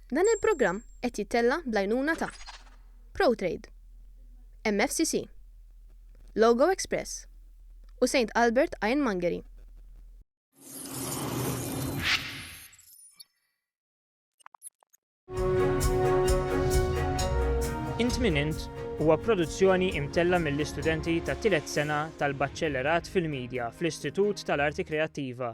Dan il-programm qed jittella' bl-għajnuna ta' Protrade, MFCC, Logo Express u Saint Albert Ironmongery. Int Min Int huwa produzzjoni imtella' mill-istudenti tat-tielet sena tal-Baċċellerat fil-Midja fl-Istitut tal-Arti Kreattiva,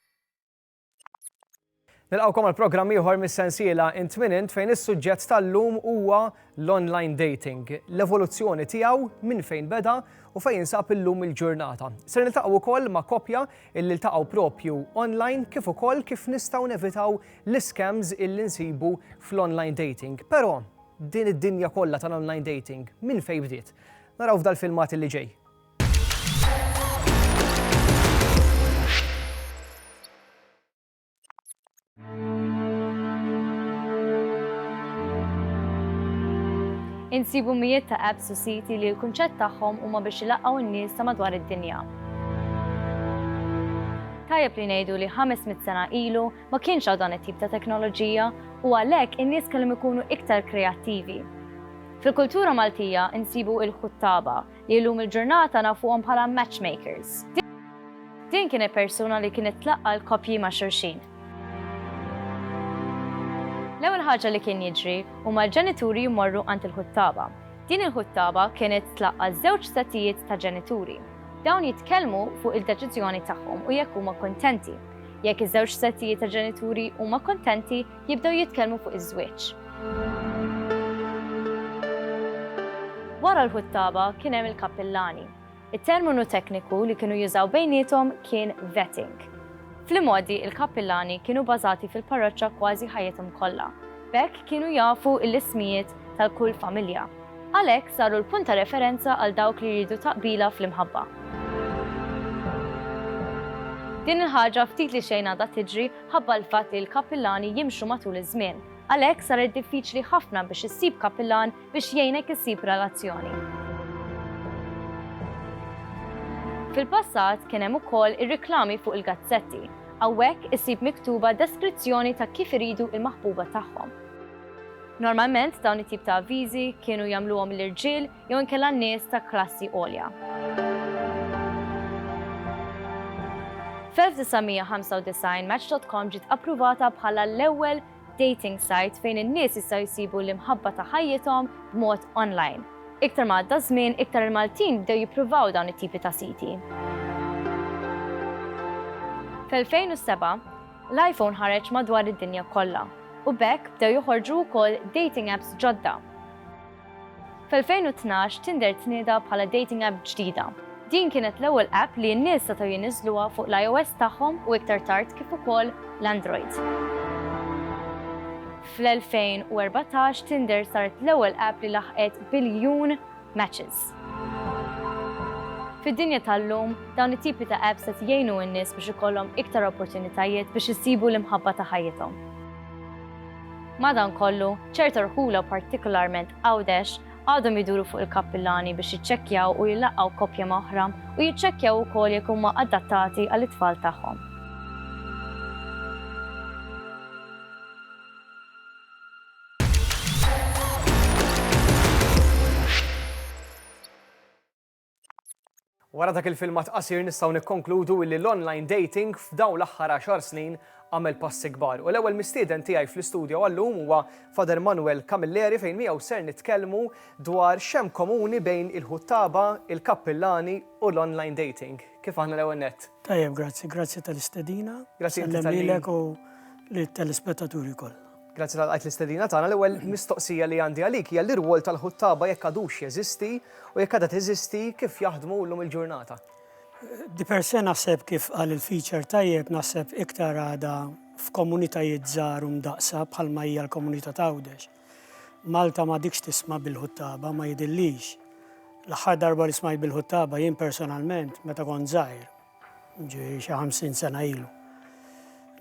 Nilqgħukom għal programm ieħor mis-sensiela Int Min Int fejn is-suġġett tal-lum huwa l-online dating, l-evoluzzjoni tiegħu, minn fejn beda u fejn jinsab illum il-ġurnata. Ser niltaqgħu wkoll ma' koppja illi ltaqgħu propju online kif ukoll kif nistgħu nevitaw l-iskems illi nsibu fl-online dating. Però din id-dinja kollha tal-online dating minn fejn bdiet? Naraw f'dal-filmat illi ġej. Insibu mijiet ta' apps u siti li l-kunċett tagħhom huma biex ilaqqgħu n-nies ta' madwar id-dinja. Tajjeb li ngħidu li 500 sena ilu ma kienx hawn dan it-tip ta' teknoloġija u għalhekk in-nies kellhom ikunu iktar kreattivi. Fil-kultura Maltija insibu il-ħuttaba li llum il-ġurnata nafuhom bħala matchmakers. Din kienet persuna li kienet tlaqqa' l-koppji ma' xulxin. L-ewwel ħaġa li kien jiġri huma l-ġenituri jmorru għand il-ħuttaba. Din il-ħuttaba kienet tlaqqa' żewġ settijiet ta' ġenituri. Dawn jitkellmu fuq il-deċiżjoni tagħhom u jekk huma kuntenti. Jekk iż-żewġ settijiet ta' ġenituri huma kuntenti, jibdew jitkellmu fuq iż-żwieġ. Wara l-ħuttaba kien hemm il-kappillani. It-terminu tekniku li kienu jużaw bejniethom kien vetting. Fl-imgħoddi il-kappillani kienu bażati fil-parroċċa kważi ħajjithom kollha, b'hekk kienu jafu l-ismijiet tal-kull familja. Għalhekk saru l-punt ta' referenza għal dawk li jridu taqbila fl-imħabba. Din il-ħaġa ftit li xejn għadha tiġri ħabba l-fatt li l-kappillani jimxu matul iż-żmien. Għalhekk saret diffiċli ħafna biex issib kappillan biex jgħinek issib relazzjoni. Fil-passat kien hemm ukoll ir-riklami fuq il-gazzetti. Hawnhekk isib miktuba deskrizzjoni ta' kif iridu il-maħbuba tagħhom. Normalment dawn it-tip ta' avviżi kienu jagħmluhom l-irġiel jew inkella nies ta' klassi għolja. F'1995 Match.com ġiet appruvata bħala l-ewwel dating site fejn in-nies jistgħu jsibu l-imħabba ta' ħajjithom b'mod online. Iktar ma għadda ż-żmien, iktar il-Maltin bdew jippruvaw dawn it-tipi ta' siti. F'2007, l-iPhone ħareġ madwar id-dinja kollha, u b'hekk bdew joħorġu wkoll dating apps ġodda. Fl-2012 Tinder tnieda bħala dating app ġdida. Din kienet l-ewwel app li n-nies setgħu jniżżluha fuq l-IOS tagħhom u iktar tard kif ukoll l-Android. Fl-2014 Tinder saret l-ewwel app li laħqet biljun matches. Fid-dinja tal-lum, dawn it-tipi ta' apps qed jgħinu n-nies biex ikollhom iktar opportunitajiet biex isibu l-imħabba ta' ħajjithom. Madankollu, ċerta rħula partikolarment Għawdex għadhom iduru fuq il-kappillani biex jiċċekkjaw u jlaqqgħu koppja ma' oħra u jiċċekkjaw ukoll jekk huma adattati għall-itfal tagħhom. Wara dak il-filmat qasir nistgħu nikkonkludu illi l-online dating f'dawn l-aħħar għaxar snin għamel passi kbar u l-ewwel mistieden tiegħi fl-istudio għal-lum huwa Father Manuel Camilleri fejn miegħu ser nitkellmu dwar x'hemm komuni bejn il-ħuttaba, il-kappillani u l-online dating. Kif aħna l-ewwel nett? Tajjeb grazzi, grazzi tal-istedina. Grazzi inti tal-li. Nsellem lilek u lit-telespettaturi kollha. Grazzi tal qajt l-istedina tagħna. L-ewwel mistoqsija li għandi għalik hija l-irwol tal-ħuttaba jekk għadux jeżisti u jekk għadha teżisti kif jaħdmu llum il-ġurnata. Di per se naħseb kif qal il-feature tajjeb naħseb iktar għadha f'komunitajiet żgħar u mdaqsa bħalma hija l-komunità tawdex. Malta ma dikx tisma' bil-ħuttaba ma jidillix. L-aħħar darba li smajt bil-ħuttaba jien personalment meta kont żgħir ġi xi 50 sena ilu.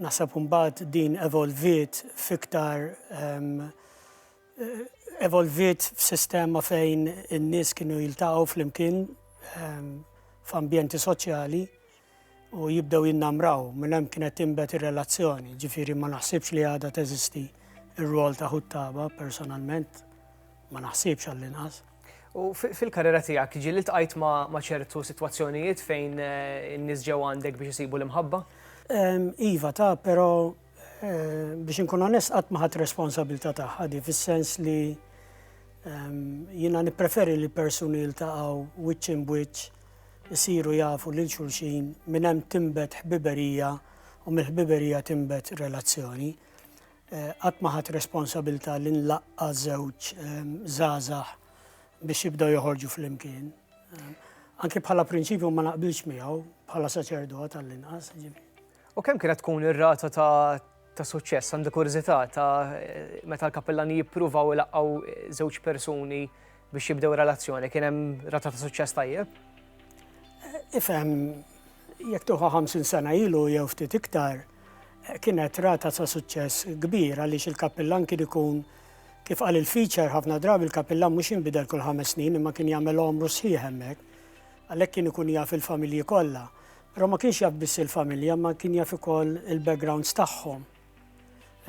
Naħseb mbagħad din evolviet fiktar ehm, evolviet f'sistema fejn in-nies kienu jiltaqgħu flimkien ehm, f'ambjenti soċjali u jibdew jinnamraw minn hemm kienet timbet ir-relazzjoni, ġifieri ma naħsibx li għadha teżisti ir-rwol ta' ħuttaba personalment ma naħsibx għall-inqas. U fil-karriera tiegħek ġieli ltqajt ma' ċertu sitwazzjonijiet fejn eh, in-nies ġew għandek biex isibu l-imħabba? Ehm, iva ta' però eh, biex inkun onest qatt ma ħadd responsabilità tagħha di fis-sens li ehm, jiena nippreferi li persuni jiltaqgħu wiċċ in wiċċ isiru jafu lil xulxin minn hemm timbet ħbiberija u mill-ħbiberija timbet relazzjoni. Qatt ma ħadt responsabilità li nlaqqa' żewġ żgħażagħ biex jibdew joħorġu flimkien. Anke bħala prinċipju ma naqbilx miegħu bħala saċerdot għall-inqas. U kemm kienet tkun ir-rata ta' ta' suċċess, għandi kurżità ta' meta l-kappellani jippruvaw ilaqqgħu żewġ persuni biex jibdew relazzjoni, kien hemm rata ta' suċċess tajjeb? Ifhem, jekk tuħa 50 sena ilu jew ftit iktar, kienet rata ta' suċċess kbir għaliex il-kapillan kien ikun kif qal il-feature ħafna drabi il-kapillan mhux jinbidel kull ħames snin imma kien jagħmel għomru sħiħ hemmhekk. Għalhekk kien ikun jaf il-familji kollha. Però ma kienx jaf biss il-familja, ma kien jaf ukoll il-backgrounds tagħhom.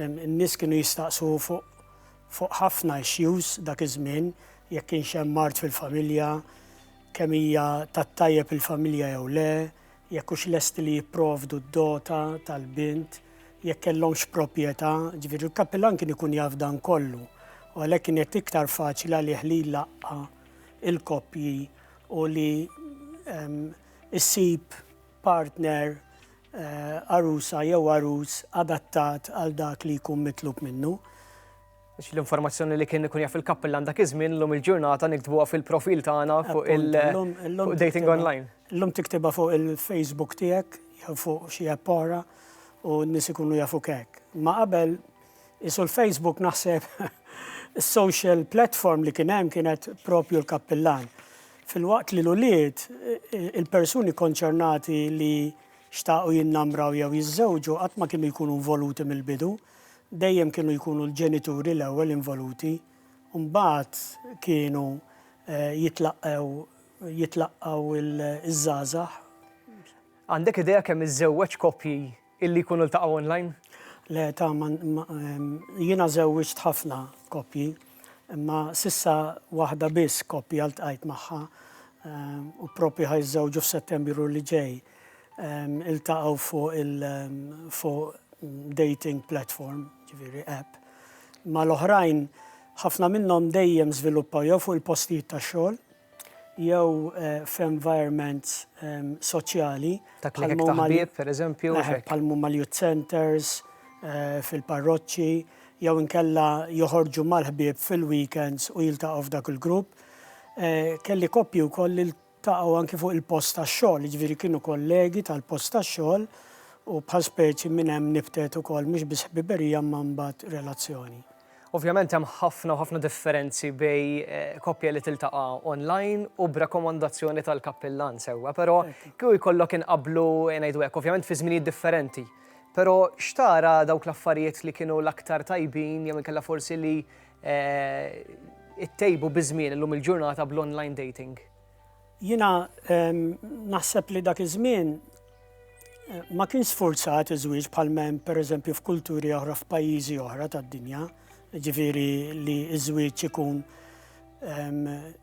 In-nies kienu jistaqsu fuq ħafna issues dak iż-żmien, jekk kienx hemm mard fil-familja, kemm hija tat-tajjeb il-familja jew le, jekk hux lesti li jipprovdu d-dota tal-bint, jekk kellhomx proprjetà, ġifieri l-kappillan kien ikun jaf dan kollu u għalhekk kienet iktar faċli għalih li jlaqqa' il-koppji u li issib partner, għarusa jew għarus adattat għal dak li jkun mitlub minnu. Għax l-informazzjoni li kien ikun jaf il-kappillan dak iż-żmien llum il-ġurnata niktbuha fil-profil tagħna fuq il-dating online. Llum tiktibha fuq il-Facebook tiegħek jew fuq xi app oħra u n-nies ikunu jafuk hekk. Ma qabel Isu l-Facebook naħseb is-social platform li kien hemm kienet propju l-kappillan. Fil-waqt li l-ulied, il-persuni konċernati li xtaqu jinnamraw jew jiżżewġu qatt ma kienu jkunu involuti mill-bidu, dejjem kienu jkunu l-ġenituri l-ewwel involuti, u mbagħad kienu eh, jitlaqgħu jitlaqgħu iż-żgħażagħ. Għandek idea kemm iż-żewġ koppji Illi jkunu ltaqgħu online? Le, ta' ma, ma, em, jiena żewwiġt ħafna koppji, imma s'issa waħda biss koppja ltqajt magħha, em, u proprju ħa jiżżewġu f'Settembru li ġej. Em, iltaqgħu fuq il, em, fuq dating platform, jiġifieri app. Mal-oħrajn, ħafna minnhom dejjem żviluppaw jew fuq il-postijiet tax-xogħol, jew f'environments soċjali bħal huma l-youth centres, fil-parroċċi, jew inkella joħorġu mal-ħbieb fil-weekends u jiltaqgħu f'dak il-grupp. Kelli koppji wkoll li ltaqgħu anki fuq il-post tax-xogħol, jiġifieri kienu kollegi tal-post tax-xogħol u bħal speċi minn hemm nibtet ukoll mhux biss ħbiberija imma mbagħad relazzjoni. Ovvjament hemm ħafna u ħafna differenzi bej koppja li tiltaqa' online u b'rakkomandazzjoni tal-kappillan sewwa, però kieku jkollok inqabblu ngħidu hekk, ovvjament fi żminijiet differenti, però x'tara dawk l-affarijiet li kienu l-aktar tajbin jew inkella forsi li ittejbu biż-żmien illum il-ġurnata bl-online dating? Jiena naħseb li dak iż-żmien ma kienx sfurzat iż-żwieġ bħal m'hemm pereżempju f'kulturi oħra f'pajjiżi oħra tad-dinja, ġifieri li ż-żwieġ ikun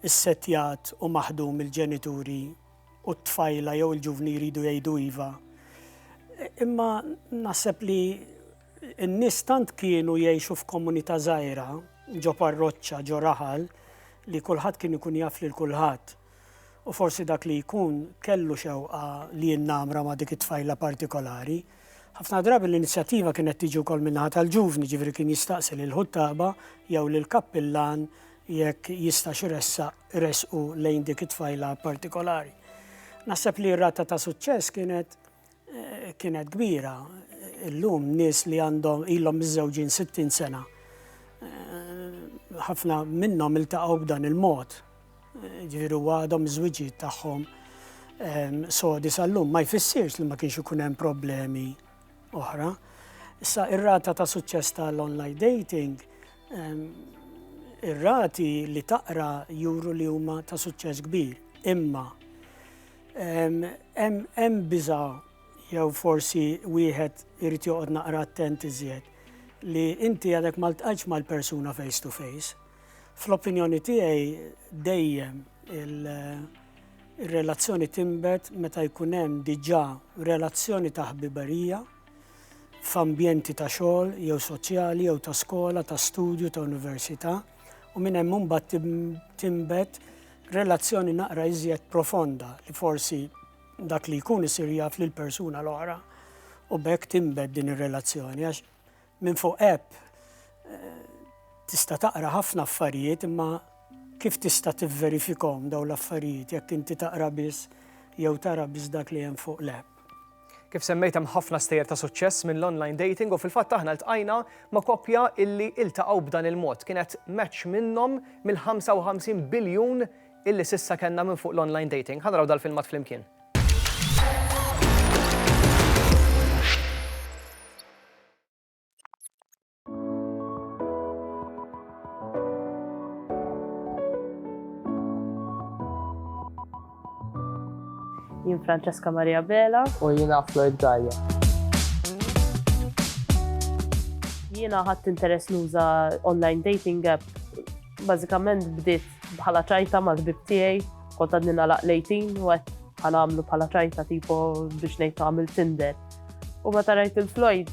issettjat u maħdum mill-ġenituri u t-tfajla jew il-ġuvni jridu jgħidu iva. Imma naħseb li In-nies tant kienu jgħixu f'komunità żgħira, ġo parroċċa, ġo raħal, li kulħadd kien ikun jaf lil kulħadd. U forsi dak li jkun kellu xewqa li jinnamra ma' dik it-tfajla partikolari. Ħafna drabi l-inizjattiva kienet tiġi wkoll min-naħa tal-ġuvni, ġifieri kien jistaqsi lill-ħuttaba jew lill-kappillan jekk jistax iressaq resqu lejn dik it-tfajla partikolari. Naħseb li r-rata ta' suċċess kienet kienet kbira. Illum nies li għandhom ilhom miżżewġin 60 sena ħafna minnhom iltaqgħu b'dan il-mod. Ġifieri huwa għadhom iż-żwiġijiet tagħhom ehm, sodi sal-lum ma jfissirx li ma kienx ikun hemm problemi oħra. Issa ir-rata ta' suċċess tal-online dating ehm, ir-rati li taqra juru li huma ta' suċċess kbir. Imma Hemm biża' jew forsi wieħed irid joqgħod naqra attent iżjed li inti għadek ma ltqajtx mal-persuna face to face. Fl-opinjoni tiegħi dejjem ir-relazzjoni tinbet meta jkun hemm diġà relazzjoni ta' ħbiberija f'ambjenti ta' xogħol jew soċjali jew ta' skola, ta' studju, ta' università u minn hemm imbagħad tinbet relazzjoni naqra iżjed profonda li forsi dak li jkun isir jaf lil persuna l-oħra u bekk timbed din ir-relazzjoni għax minn fuq app eh, tista' taqra ħafna affarijiet imma kif tista' tivverifikhom daw l-affarijiet jekk inti taqra biss jew tara biss dak li hemm fuq l-app. Kif semmejt hemm ħafna stejjer ta' suċċess mill-online dating u fil-fatt aħna ltqajna ma' koppja illi iltaqgħu b'dan il-mod. Kienet match minnhom mill-55 biljun illi s'issa kellna minn fuq l-online dating. Ħa naraw dal-filmat flimkien. Jien Francesca Maria Bela. U jiena Floyd Gaia. Jiena ħadd interess nuża online dating app. Bażikament bdiet bħala ċajta mal-bib tiegħi, kont għadni nalaq lejtin u għed għamlu bħala ċajta tipo biex ngħid għamil Tinder. U meta rajt il-Floyd,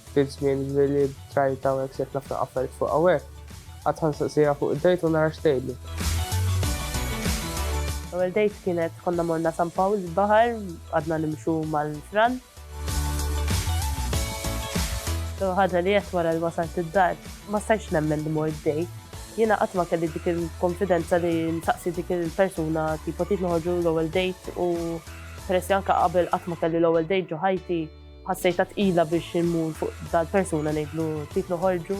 Ftit żmien Willy b'trajta hawnhekk sejħ ħafna affarijiet fuq hawnhekk. Qatt ħa nsaqsiha fuq id-date u nara x'tgħidli. L-ewwel date kienet konna morna San Pawl il-baħar, qgħadna nimxu mal-fran. L-ewwel ħaġa li għedt wara li wasalt id-dar, ma stajtx nemmen li mort date. Jiena qatt ma kelli dik il-konfidenza li nsaqsi dik il-persuna tipo trid noħorġu l-ewwel date u peress li anke qabel qatt ma kelli l-ewwel date ġo ħajti, Ħassejtha tqila biex immur fuq dal-persuna ngħidlu titlu ħorġu.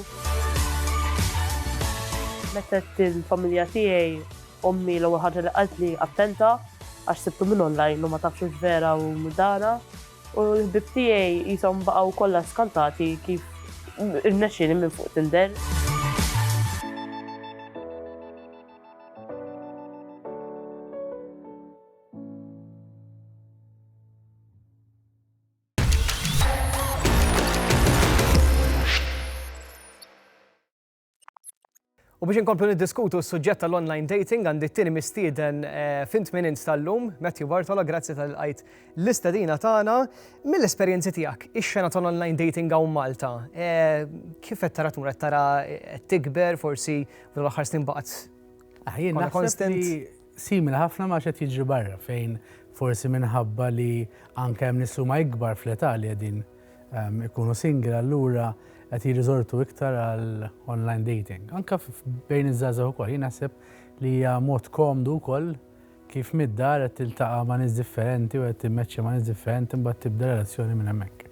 Mettet il-familja tiegħi ommi l-ewwel ħaġa li qaltli attenta għax sibtu minn online u ma tafx hux vera u mudana u l-ħbib tiegħi qishom baqgħu kollha skantati kif irnexxieli minn fuq Tinder. U biex inkomplu niddiskutu s-suġġett tal-online dating għandi t-tini mistieden eh, fint minn installum, Matthew Bartola, grazzi tal-għajt l-istadina tagħna mill-esperjenzi tiegħek. Ix-xena tal-online dating għaw Malta, eh, kif qed tara tmur qed tara eh, tikber forsi l-aħħar snin baqgħet aħjin konstant. Simili ħafna ma' x'qed jiġri barra fejn forsi minħabba li anke hemm nies li huma ikbar fl-età li qegħdin ikunu single allura qed jirriżortu iktar għal online dating. Anke bejn iż-żgħażagħ ukoll jien naħseb li hija mod komdu wkoll kif mid-dar qed tiltaqa' ma' nies differenti u qed timmeċċja ma' nies differenti mbagħad tibda relazzjoni minn hemmhekk.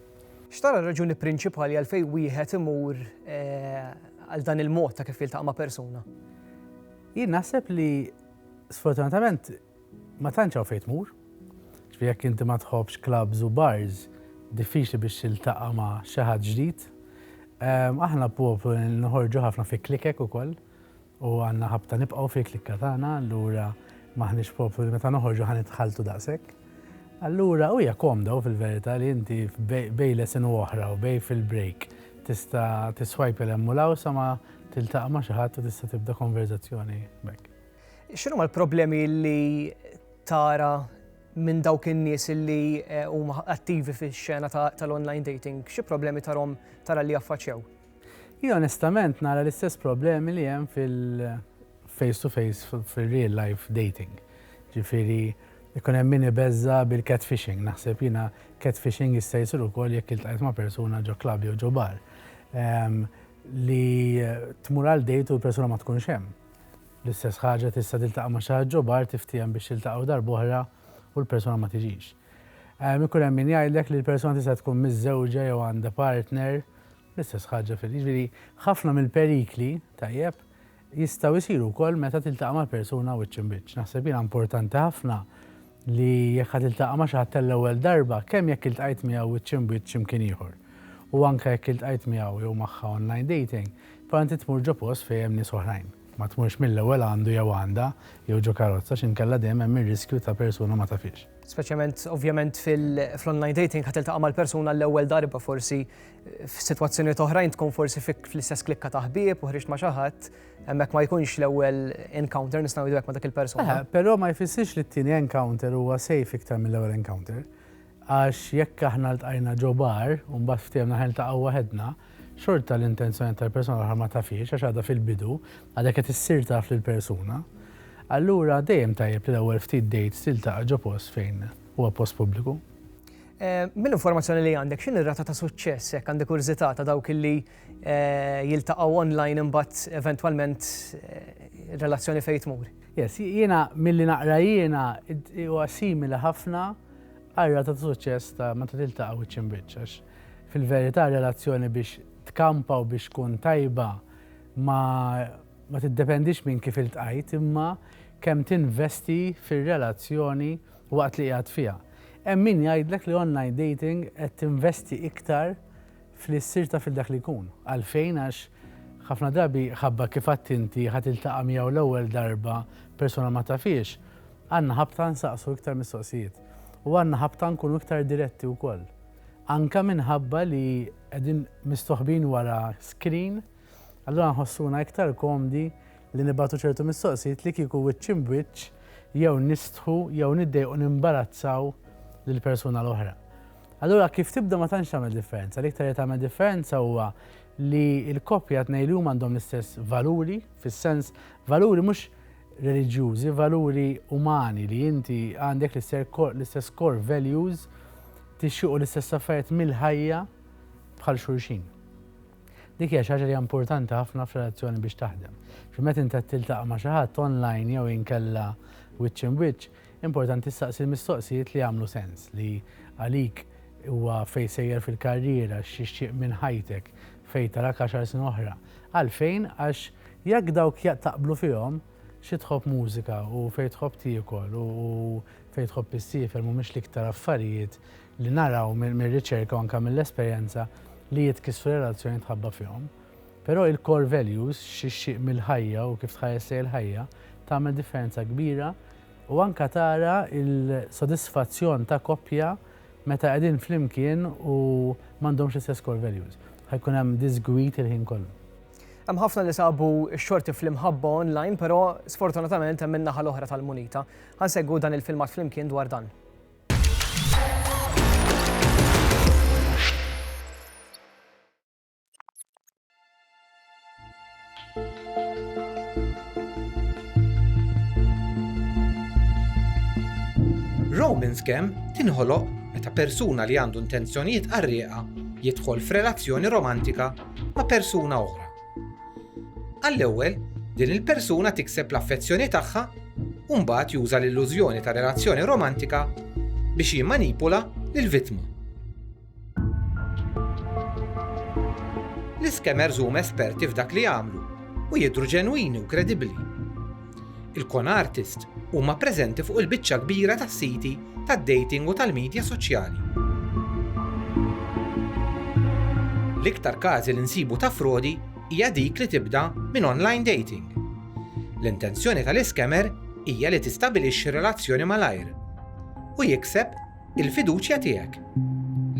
X'tara r-raġuni prinċipali għalfejn wieħed imur għal dan il-mod ta' kif jiltaqa' ma' persuna? Jien naħseb li sfortunatament ma tantx hawn fejn tmur. Ġifieri jekk inti ma tħobbx clubs u bars, diffiċli biex tiltaqa' ma' xi ħadd ġdid. Aħna poplu li noħorġu ħafna fi klikek ukoll u għandna ħabta nibqgħu fil-klikka tagħna, allura m'aħniex poplu li meta noħorġu ħa nitħalltu daqshekk. Allura u hija komda u fil-verità li inti bejn lesson u oħra u bejn fil-break tista' tiswipe 'l hemm u 'l hawn sa ma Tiltaqa' ma' xi ħadd u tista' tibda konverżazzjoni b'hekk. X'inhuma l-problemi li tara minn dawk in-nies li eh, huma attivi fix-xena tal-online dating? Xi problemi tarhom tara li jaffaċċew? Hi onestament nara l-istess problemi li hemm fil-face to face fil-real life dating. Ġifieri ikun hemm min ibeżża bil-catfishing, naħseb jiena catfishing jista' jsir ukoll jekk iltqajt ma' persuna ġo klabb jew ġo bar. Ehm, li tmur għal dejt u l-persuna ma tkunx hemm. L-istess ħaġa tista' tiltaqa' ma' xi ħadd ġo bar tiftiehem biex tiltaqgħu darb'oħra u l-persuna ma tiġix. Ehm, ikun hemm min jgħidlek li l-persuna tista' tkun miżżewġa jew għandha partner, l-istess ħaġa fil jiġifieri ħafna mill-perikli, tajjeb, jistgħu jsiru wkoll meta tiltaqa' ma' persuna wiċċ imbiċċ. Naħseb jiena importanti ħafna li jekk ħa tiltaqa' ma' xi ħadd għall-ewwel darba, kemm jekk iltqajt miegħu wiċċ imbiċċ xi mkien ieħor, u anke jekk iltqajt miegħu jew magħha online dating, però inti tmur ġo post fejn hemm nies oħrajn. Ma tmurx mill-ewwel għandu jew għandha, jew ġo karozza, x'inkella dejjem hemm ir-riskju ta' persuna ma tafhiex. Speċjament, ovvjament, fl-online dating ħa tiltaqa' mal-persuna għall-ewwel darba, forsi F'sitwazzjonijiet oħrajn tkun forsi fik fl-istess klikka ta' ħbieb u ħriġt ma' xi ħadd, hemmhekk ma jkunx l-ewwel encounter nistgħu ngħidu hekk ma' dak il-persuna. Però ma jfissirx li t-tieni encounter huwa safe iktar mill-ewwel encounter. Għax jekk aħna ltqajna ġo bar u mbagħad ftehimna ħa niltaqgħu waħedna, xorta l-intenzjonijiet tal-persuna l-oħra ma tafhiex għax għadha fil-bidu, għadek qed issir taf lill-persuna. Allura dejjem tajjeb li l-ewwel ftit dates tiltaqa' ġo post fejn huwa post pubbliku. Mill-informazzjoni li għandek, x'inhi r-rata ta' suċċess jekk għandi kurżità ta' dawk li jiltaqgħu online imbagħad eventwalment relazzjoni fejn tmur? Yes, jiena milli naqra jiena huwa simili ħafna għar-rata ta' suċċess ta' meta tiltaqa' wiċċ imbiċċ għax fil-verità relazzjoni biex tkampa u biex tkun tajba ma tiddependix minn kif iltqajt imma kemm tinvesti fir-relazzjoni waqt li qiegħed fiha. Hemm min jgħidlek li online dating qed tinvesti iktar f'li ssir taf lil dak li jkun. Għalfejn? Għax ħafna drabi ħabba kif għedt inti ħa tiltaqa' miegħu l-ewwel darba persuna ma tafhiex, għandna ħabta nsaqsu iktar mistoqsijiet u għandna ħabta nkunu iktar diretti wkoll. Anke minħabba li qegħdin mistoħbin wara screen, Allura nħossuna iktar komdi li nibagħtu ċertu mistoqsijiet li kieku wiċċ imb'wiċċ jew nistħu jew niddejqu nimbarazzaw lill-persuna l-oħra. Allura kif tibda ma tantx tagħmel differenza, l-iktar li tagħmel differenza huwa li l-koppja tnej li huma għandhom l-istess valuri, fis-sens valuri mhux reliġjużi, valuri umani li inti għandek l-istess core values tixxiqu l-istess affarijiet mill-ħajja bħal xulxin. Dik hija xi ħaġa li hija importanti ħafna f'relazzjoni biex taħdem. Xi meta inti qed tiltaqa' ma' xi ħadd online jew inkella wiċċ imwiċċ, importanti ssaqsi l-mistoqsijiet li jagħmlu sens, li għalik huwa fejn sejjer fil-karriera, x'ixtieq minn ħajtek, fejn tarak għaxar snin oħra. Għalfejn? Għax jekk dawk taqblu fihom, xi tħobb mużika u fejn tħobb tiekol u fejn tħobb issiefer mhumiex l-iktar affarijiet li naraw mir-riċerka u anke mill-esperjenza li jitkissru relazzjonijiet mħabba fihom. Però il-core values, x'ixtieq mill-ħajja u kif tħares lejn il-ħajja, tagħmel differenza kbira u anke tara l-sodisfazzjon ta' koppja meta qegħdin flimkien u m'għandhomx l-istess core values. Ħa jkun hemm diżgwid il-ħin kollu. Hemm ħafna li sabu x-xorti fl-imħabba online, però sfortunatament hemm in-naħa l-oħra tal-munita. Ħa nsegwu dan il-filmat flimkien dwar dan. Roman scam tinħoloq meta persuna li għandu intenzjonijiet qarrieqa jidħol f'relazzjoni romantika ma' persuna oħra. Għall-ewwel, din il-persuna tikseb l-affezzjoni tagħha u mbagħad juża l-illużjoni ta' relazzjoni romantika biex jimmanipula lill-vittma. L-iskemers huma esperti f'dak li jagħmlu u jidhru ġenwini u kredibbli. Il-con artist huma preżenti fuq il-biċċa kbira tas-siti tad-dating u tal-midja soċjali. L-iktar każi li nsibu ta' frodi hija dik li tibda minn online dating. L-intenzjoni tal-iscammer hija li tistabilixxi relazzjoni malajr u jikseb il-fiduċja tiegħek.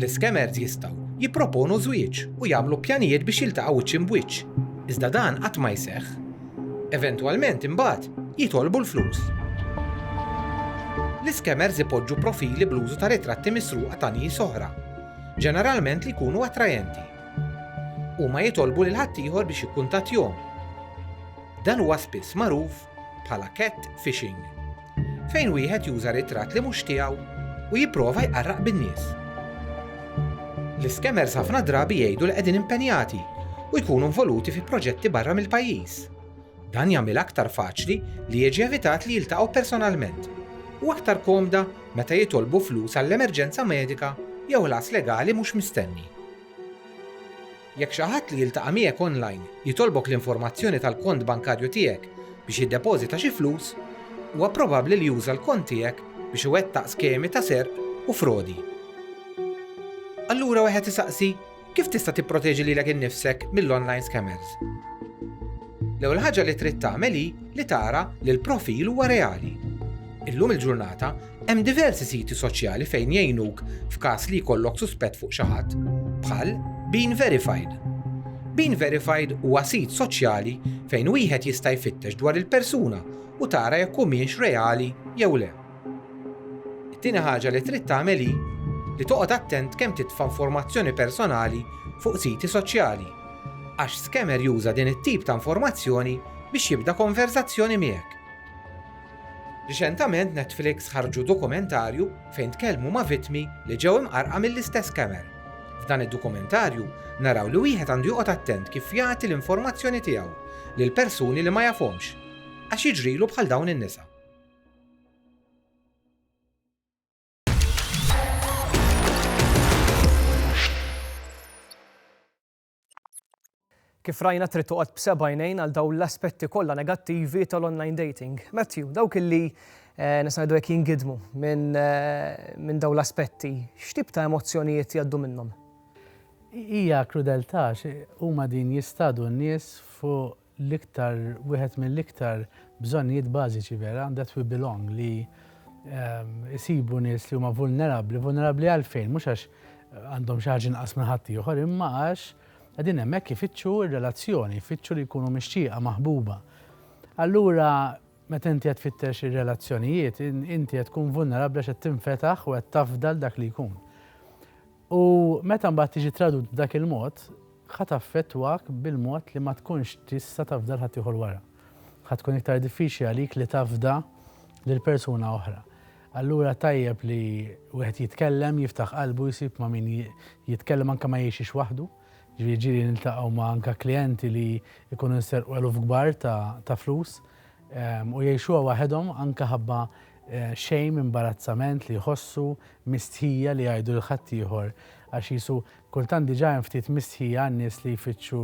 L-iskemers jistgħu jipproponu żwieġ u jagħmlu pjanijiet biex jiltaqgħu wiċċ imb'wiċċ, iżda dan qatt ma jseħħ. Eventwalment imbagħad jitolbu l-flus. L-iskemers ipoġġu profili bl-użu ta' ritratti misruqa ta' nies oħra, ġeneralment li jkunu attrajenti. Huma jitolbu lil ħaddieħor biex jikkuntattjhom. Dan huwa spiss magħruf bħala cat fishing, fejn wieħed juża ritratt li mhux tiegħu u jipprova jqarraq bin-nies. L-iskemers ħafna drabi jgħidu li qegħdin impenjati u jkunu involuti fi proġetti barra mill-pajjiż. Dan jagħmilha aktar faċli li jiġi evitat li jiltaqgħu personalment u aktar komda meta jitolbu flus għall-emerġenza medika jew ħlas legali mhux mistenni. Jekk xi ħadd li jiltaqa' miegħek online jitolbok l-informazzjoni tal-kont bankarju tiegħek biex jiddepożita xi flus, huwa probabbli li juża l-kont tiegħek biex iwettaq skemi ta' serq u frodi. Allura wieħed isaqsi, kif tista' tipproteġi lilek innifsek mill-online scammers? L-ewwel ħaġa li trid tagħmel hi li tara li l-profil huwa reali. Illum il-ġurnata, Hemm diversi siti soċjali fejn jgħinuk f'każ li jkollok suspett fuq xi ħadd, bħal Bean Verified. Bean Verified huwa sit soċjali fejn wieħed jista' jfittex dwar il-persuna u tara jekk humiex reali jew le. It-tieni ħaġa li trid tagħmel hi li toqgħod attent kemm titfa' informazzjoni personali fuq siti soċjali, għax scammer juża din it-tip ta' informazzjoni biex jibda konverżazzjoni miegħek. Riċentament Netflix ħarġu dokumentarju fejn tkellmu ma' vittmi li ġew imqarrqa mill-istess scammer. F'dan id-dokumentarju naraw li wieħed għandu joqgħod attent kif jagħti l-informazzjoni tiegħu lil persuni li ma jafhomx għax jiġrilu bħal dawn in-nisa. Kif rajna trid toqgħod b'seba' għajnejn għal dawn l-aspetti kollha negattivi tal-online dating. Matthew, dawk illi eh, nista' ngħidu hekk jingidmu minn eh, min dawn l-aspetti, x'tip ta' emozzjonijiet jgħaddu minnhom? Hija krudeltà huma din jistadu n-nies fuq l-iktar, wieħed mill-iktar bżonnijiet bażiċi vera and that we belong li isibu nies li huma vulnerabbli, vulnerabbli għalfejn? Mhux għax għandhom xi ħaġa inqas minn ħaddieħor imma għax qegħdin hemmhekk ifittxu r-relazzjoni, ifittxu li jkunu mixtieqa, maħbuba. Allura meta inti qed tfittex ir-relazzjonijiet, inti qed tkun vulnerabbli għax qed tinfetaħ u qed tafda dak li jkun. U meta mbagħad tiġi tradut b'dak il-mod, ħa taffettwak bil-mod li ma tkunx tista' tafda 'l ħaddieħor wara. Ħa tkun iktar diffiċli għalik li tafda lil persuna oħra. Allura tajjeb li wieħed jitkellem, jiftaħ qalbu, jsib ma' min jitkellem anke ma jgħixx waħdu. Ġifieri ġieli niltaqgħu ma' anke klijenti li jkunu nserqu eluf kbar ta' flus u jgħixuha waħedhom anke ħabba Shame, imbarazzament li jħossu, mistħija li jgħidu lil ħaddieħor għax qisu kultant diġà hemm ftit mistħija għan-nies li jfittxu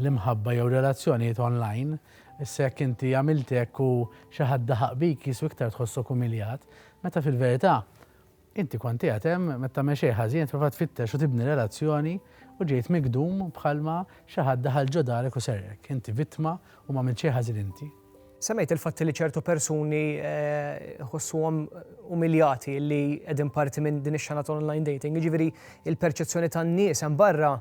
l-imħabba jew relazzjonijiet online. Issa jekk inti għamilt hekk u xi ħadd daħaq bik qisu iktar tħossok umiljat, meta fil-verità Inti kont qiegħed hemm meta mexej ħażin qed tipprova tfittex u tibni relazzjoni u ġejt migdum bħalma xi ħadd daħal ġo darek u serqek. Inti vittma u m'għamilt xejn ħażin inti. Semmejt il-fatt li ċertu persuni jħossuhom umiljati li qegħdin parti minn din ix-xena ta' online dating, jiġifieri l-perċezzjoni tan-nies hemm barra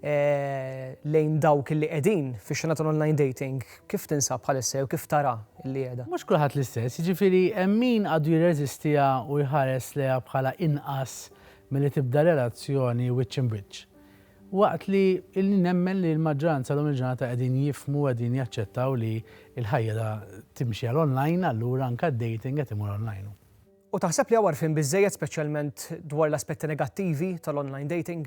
lejn dawk li qegħdin fix-xena tal-online dating, kif tinsab bħalissa jew kif tara li qiegħda? Mhux kulħadd l-istess, jiġifieri hemm min għadu jirreżistiha u jħares lejha bħala inqas milli tibda relazzjoni wiċċ imb'wiċċ. Waqt li nemmen li l-maġġoranza llum il-ġurnata qegħdin jifhmu u qegħdin jaċċettaw li l-ħajja timxi għal online allura anke d-dating qed imur online. U taħseb li hawn għarfien biżżejjed speċjalment dwar l-aspetti negattivi tal-online dating?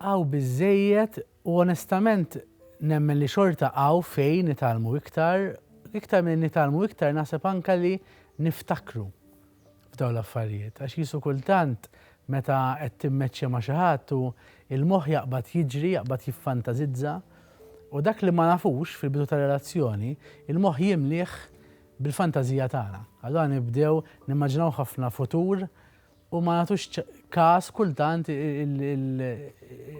Hawn biżżejjed u onestament nemmen li xorta hawn fejn nitgħallmu iktar, iktar milli nitgħallmu iktar naħseb anke li niftakru f'dawn l-affarijiet għax qisu kultant meta qed timmeċċja ma' xi ħadd u l-moħħ jaqbad jiġri, jaqbad jiffantasizza u dak li ma nafux fil-bidu tar-relazzjoni, il-moħħ jimlieh bil-fantażija tagħna. Allura nibdew nimmaġinaw ħafna futur u ma nagħtux każ kultant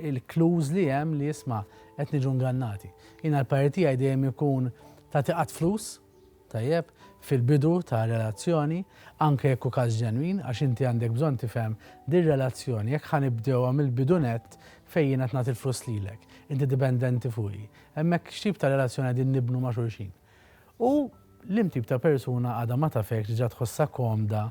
il-clues li hemm li isma' qed niġu ngannati. Jiena l-parir tiegħi dejjem ikun tagħti qatt flus, tajjeb, fil-bidu ta' relazzjoni, anke jekk hu każ ġenwin, għax inti għandek bżonn tifhem din relazzjoni jekk ħa nibdewha mill-bidu nett fejn jiena qed nagħti l-flus lilek, inti dipendenti fuqi. Hemmhekk x'tip ta' relazzjoni qegħdin nibnu ma' xulxin? U liem tip ta' persuna għadha ma tafekx, diġà tħossha komda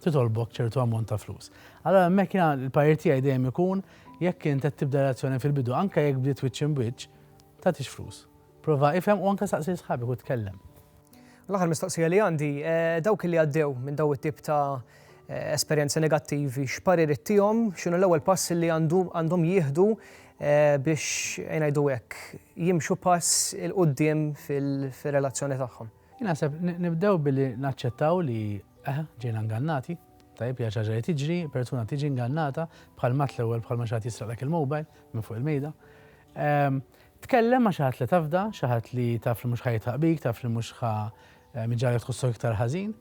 titolbok ċertu ammont ta' flus. Allura hemmhekk jiena l-parir tiegħi dejjem ikun jekk int qed tibda relazzjoni fil-bidu, anke jekk bdiet wiċċ imb'wiċċ, tagħtix flus. Prova ifhem u anke saqsi lil sħabek u tkellem. L-aħħar mistoqsija li għandi, dawk li għaddew minn dawn it-tip ta' esperjenzi negattivi, x'paririt tihom, x'inhu l-ewwel pass li għandhom jieħdu eh, biex ngħidu hekk jimxu pass il qudiem fil-relazzjoni tagħhom. Naħseb nibdew billi naċċettaw li eh, ġejna ngannati, tajb hija ċaġa li tiġri, persuna tiġi ngannata bħal mat l-ewwel bħal ma xaħat jisraqlek il-mobile minn fuq il-mejda. Ehm, tkellem ma xaħat li tafda, xaħat li taf li mhux ħajtaq bik, taf li mhux ħa eh, miġġalek tħossok iktar ħażin.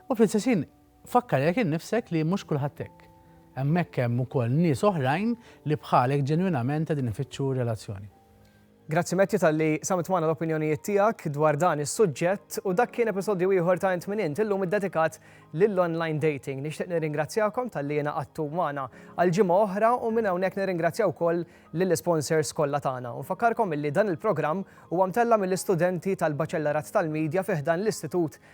U fl-istess ħin, fakkarek innifsek li mhux kulħadd hekk. Hemmhekk hemm ukoll nies oħrajn li bħalek ġenwinament qegħdin ifittxu relazzjoni. Grazzi Matthew talli qsamt magħna l-opinjonijiet tiegħek dwar dan is-suġġett u dak kien episodju ieħor ta' Int Min Int, illum iddedikat lill-online dating. Nixtieq nirringrazzjakom talli ingħaqadtu magħna għal ġimgħa oħra u minn hawnhekk nirringrazzja wkoll lill-isponsors kollha tagħna. U nfakkarkom illi dan il-programm huwa mtella' mill-istudenti tal-Baċellarat tal-Media fi ħdan l-Istitut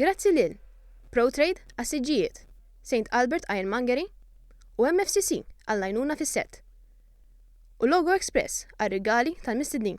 Grazzi lil ProTrade għas-siġġijiet, St Albert Ironmongery u MFCC għall-għajnuna fis-sett, u Logo Express għar-rigali tal-mistednin.